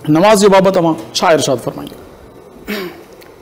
نمازيء بابت اوهان ڇا ارشاد فرمائيندو؟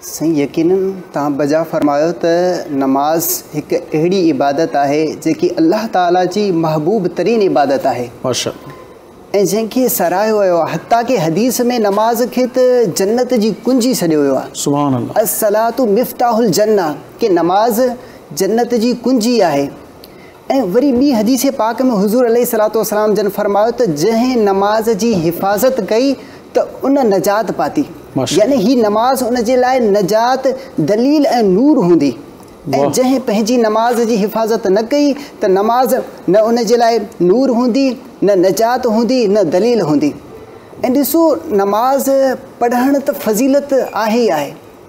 سائين يقينن توهان بجا فرمايو ته نماز هڪ اهڙي عبادت آهي جيڪي الله تعالي جي محبوب ترين عبادت آهي ۽ جنهن کي ساراهيو ويو آهي حتيٰ ڪي حديث ۾ نماز کي ته جنت جي ڪنجي سڏيو ويو آهي سبحان الله الصلات مفتاح الجنه ڪي نماز جنت جي ڪنجي آهي. ۽ وري ٻي حديث پاڪ ۾ حضور عليه الصلوة والسلام جن فرمايو ته جنهن نماز جي حفاظت ڪئي ته ان نجات پاتي يعني هي نماز ان جي لاء نجات، دليل ۽ نور هوندي ۽ جنهن پنهنجي نماز جي حفاظت نه ڪئي ته نماز نه ان جي لاء نور هوندي، نه نجات هوندي، نه دليل هوندي ۽ ڏسو نماز پڙهڻ ته فضيلت آهي ئي آهي.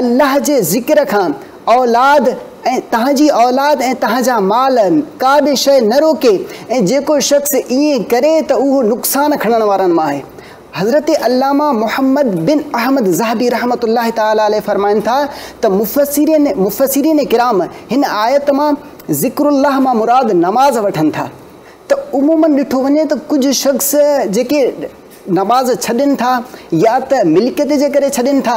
الله جي ذڪر کان اولاد ۽ تنهن جي اولاد ۽ تنهن جا مال ڪا به شيء نه روڪي ۽ جيڪو شخص ائين ڪري ته اهو نقصان کڻڻ وارن مان آهي. حضرت علامه محمد بن احمد ذهبي رحمة الله تعالٰي عليه فرمائن ٿا ته مفسرين مفسرين ڪرام هن آيت مان ذڪر الله مان مراد نماز وٺن ٿا ته عموماً ڏٺو وڃي ته ڪجهه شخص جيڪي نماز ڇڏين ٿا يا ته ملڪيت جي ڪري ڇڏين ٿا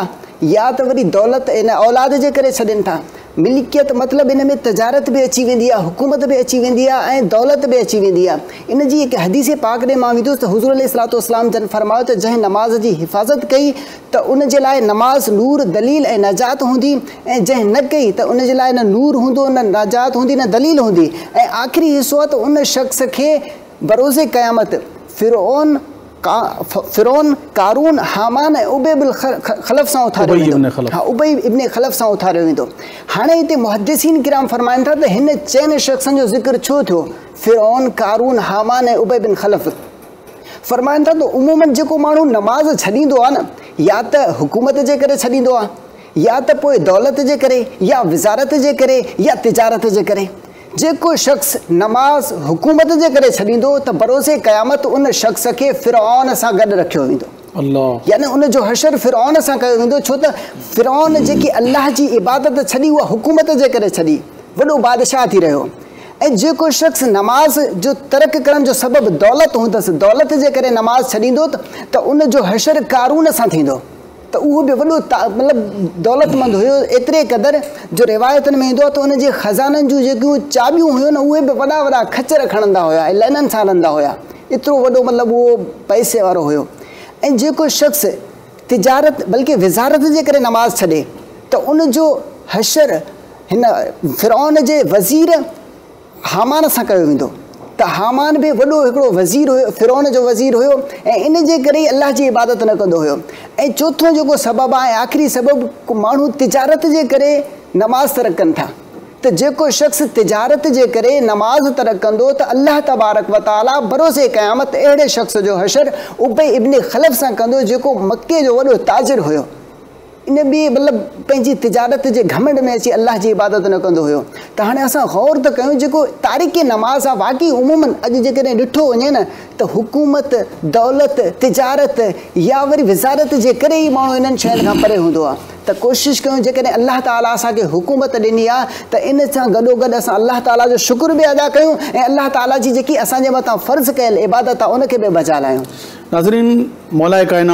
يا ته وري دولت يعني اولاد جي ڪري ڇڏين ٿا. ملڪيت مطلب ان ۾ تجارت به اچي ويندي آهي حڪومت به اچي ويندي آهي ۽ دولت به اچي ويندي آهي. ان جي هڪ حديث پاڪ ڏي مان ويندس ته حضور عليه الصلوة والسلام جن فرمايو ته جنهن نماز جي حفاظت ڪئي ته ان جي لاء نماز نور، دليل ۽ نجات هوندي ۽ جنهن نه ڪئي ته ان جي لاء نه نور هوندو نه نجات هوندي نه دليل هوندي ۽ آخري حصو آهي ته ان شخص کي بروز قيامت فرعون، فرعون، قارون، هامان ۽ ابي بن خلف سان اٿاريو ويندو. ابي ابن خلف. ها، ابي ابن خلف سان اٿاريو ويندو. هاڻي هتي محدثين ڪرام فرمائن ٿا ته هن چئن شخصن جو ذڪر ڇو ٿيو، فرعون، قارون، هامان ۽ ابي بن خلف؟ فرمائن ٿا ته عموماً جيڪو ماڻهو نماز ڇڏيندو آهي نه، يا ته حڪومت جي ڪري ڇڏيندو آهي، يا ته پوء دولت جي ڪري، يا وزارت جي ڪري، يا تجارت جي ڪري. جيڪو شخص نماز حڪومت جي ڪري ڇڏيندو ته بروز قيامت ان شخص کي فرعون سان گڏ رکيو ويندو. يعني ان جو حشر فرعون سان ڪيو ويندو ڇو ته فرعون جيڪي الله جي عبادت ڇڏي اها حڪومت جي ڪري ڇڏي، وڏو بادشاهه ٿي رهيو ۽ جيڪو شخص نماز جو ترڪ ڪرڻ جو سبب دولت هوندس، دولت جي ڪري نماز ڇڏيندو ته ان جو حشر قارون سان ٿيندو. ته اهو به وڏو مطلب دولتمند هيو، ايتري قدر جو روايتن ۾ ايندو آهي ته ان جي خزانن جون جيڪيون چاٻيون هيون نه اهي به وڏا وڏا خچر کڻندا هيا ۽ لئنن سان رندا هيا، ايترو وڏو مطلب اهو پئسي وارو هيو ۽ جيڪو شخص تجارت بلڪه وزارت جي ڪري نماز ڇڏي ته ان جو حشر هن فرعون جي وزير. هامان سان ڪيو ويندو ته هامان به وڏو هڪڙو وزير هيو فرعون جو وزير هيو ۽ ان جي ڪري ئي الله جي عبادت نه ڪندو هيو ۽ چوٿون جيڪو سبب آهي ۽ آخري سبب ماڻهو تجارت جي ڪري نماز ترڪ ڪن ٿا ته جيڪو شخص تجارت جي ڪري نماز ترڪ ڪندو ته الله تبارڪ وتعالي بروز قيامت اهڙي شخص جو حشر ابي ابن خلف سان ڪندو جيڪو مڪي جو وڏو تاجر هيو ان ٻئي مطلب پنهنجي تجارت جي گهمنڊ ۾ اچي الله جي عبادت نه ڪندو هيو ته هاڻي اسان غور ته ڪيون جيڪو تارڪ نماز آهي واقعي عمومن اڄ جيڪڏهن ڏٺو وڃي نه ته حڪومت دولت تجارت يا وري وزارت جي ڪري ئي ماڻهو انهن شين کان پري هوندو آهي ته ڪوشش ڪيون جيڪڏهن الله تعالي اسان کي حڪومت ڏني آهي ته ان سان گڏوگڏ اسان الله تعالي جو شڪر به ادا ڪيون ۽ الله تعالي جي جيڪي اسان جي مٿان فرض ڪيل عبادت آهي ان کي به بجا لاهيون ناظرين مولائي ڪائنات.